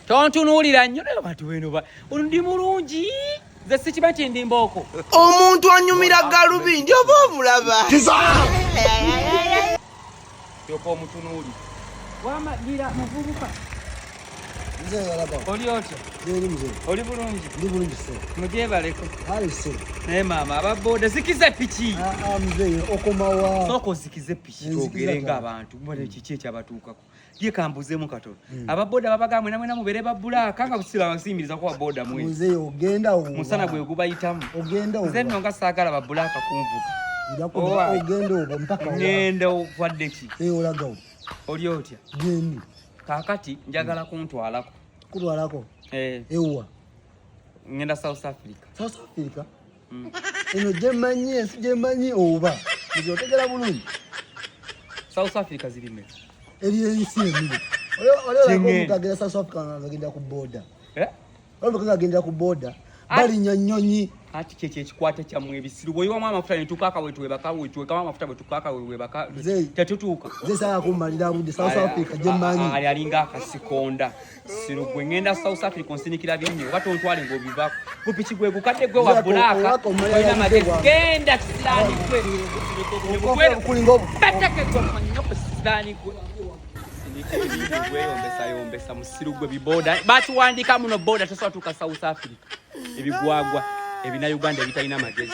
tontunuulira nnyo naye bantu beno ba ndi mulungi nze sikiba nti ndi mbooko omuntu anyumira galubindi oba omulaba yoka omutunuuli wamalira muvubuka oli otya oli bulungi mugyebaleko naye maama ababoda zikiza piki ah, ah, okomawa sooka ozikize piki twogerenga abantu kiki ekyabatuukako ye kambuzemu katono mm. ababoda babaga mwena mwena mubere babula kanga kusila basimiriza kwa boda mwe muze ogenda owo musana gwe gubayitamu ogenda owo zenno nga sagala babula akakunvuka njakuba ogenda owo mpaka owo ngenda okwadde ki e eh, olaga owo oli otya geni kakati njagala mm. kuntwalako kutwalako eh ewa ngenda south africa south africa eno gyemanyi ensi gyemanyi oba otegera bulungi south africa zirime eri ensi emiri olagenda south africa agenda ku boda eh? olabika agenda ku boda balinya nyonyi ati kyekyo ekikwata kyammwe ebisiru bweyiwamu amafuta netukaaka wetwebaka wetwekamu amafuta bwetukaaka wewebaka tetutuuka zesayakumalira budde south africa gyemanyi ali alinga akasikonda siro gwe ngenda south africa onsinikira bingi oba tontwale ngaobivako gupiki gwe gukadde gwe wa bulaaka olina magezi genda kisilaani gwe kulinga obubatekegomanyo ku kisilaani gwe gweyombesa musiru gwe biboda bakiwandika muno boda tosobola tuuka south africa ebigwagwa ebina uganda ebitalina magezi